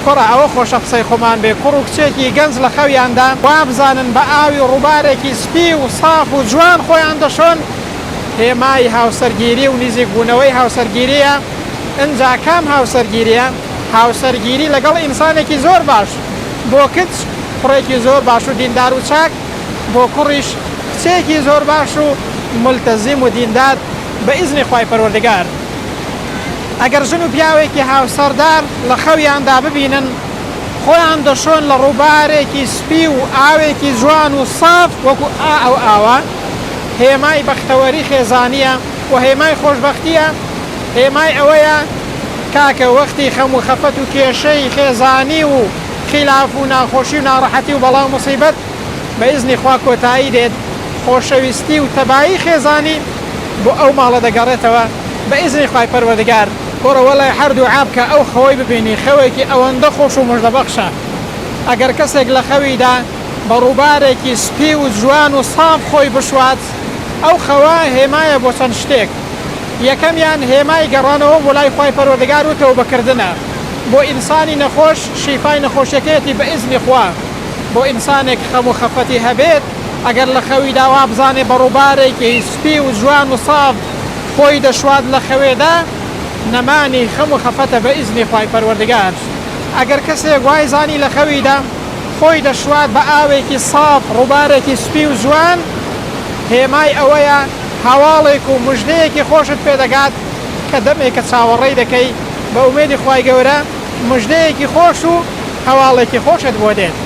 کوڕە ئەوە خۆشە قسەی خۆمان بێ کوڕ و کچێکی گەنج لە خەویاندان وابزانن بە ئاوی ڕووبارێکی سپی و ساف و جوان خۆیان دەشۆن هێمای هاوسەرگیری و نیزیک بوونەوەی هاوسەرگیریە ئنجا کام هاوسەرگیریە هاوسەرگیری لەگەڵ ئینسانێکی زۆر باش بۆ کچ کوڕێکی زۆر باش و دیندار و چاک بۆ کوڕیش کچێکی زۆر باش و مولتەزیم و دیندار بە ئیزنی خوای پەروەردگار. ئەگەر ژن و پیاوێکی هاوسەردار لە خەویاندا ببینن خۆیان دەشۆن لە ڕووبارێکی سپی و ئاوێکی جوان و ساف وەکو ئا ئەو ئاوە هێمای بەختەوەری خێزانیە و هێمای خۆشبەختیە هێمای ئەوەیە کاکە وەختی خەم و خەفەت و کێشەی خێزانی و خیلاف و ناخۆشی و ناڕەحەتی و بەڵا و موسیبەت بە ئیزنی خوا کۆتایی دێت، خۆشەویستی و تەبایی خێزانی بۆ ئەو ماڵە دەگەڕێتەوە بە ئیزنی خوای پەروەردگار. کوڕە وەلای هەر دوعا بکە ئەو خەوەی ببینی خەوێکی ئەوەندە خۆش و موژدە بەخشە ئەگەر کەسێک لە خەویدا بە ڕووبارێکی سپی و جوان و ساف خۆی بشوات ئەو خەوە هێمایە بۆ چەند شتێک یەکەمیان هێمای گەڕانەوە بۆ لای خوای پەروەردگار و تەوبە کردنە بۆ ئینسانی نەخۆش شیفای نەخۆشیەکەیەتی بە ئیزنی خوا. بۆ ئینسانێک خەم و خەفەتی هەبێت ئەگەر لە خەویدا وابزانێت بە ڕووبارێکی سپی و جوان و ساف خۆی دەشوات لە خەوێدا نەمانی خەم و خەفەتە بە ئیزنی خوای پەروەردگار ئەگەر کەسێک وای زانی لە خەویدا خۆی دەشوات بە ئاوێکی ساف ڕووبارێکی سپی و جوان هێمای ئەوەیە هەواڵێک و مژدەیەکی خۆشت پێدەگات کە دەمێکە چاوەڕێی دەکەی بە ئومێدی خوای گەورە مژدەیەکی خۆش و هەواڵێکی خۆشت بۆ دێت.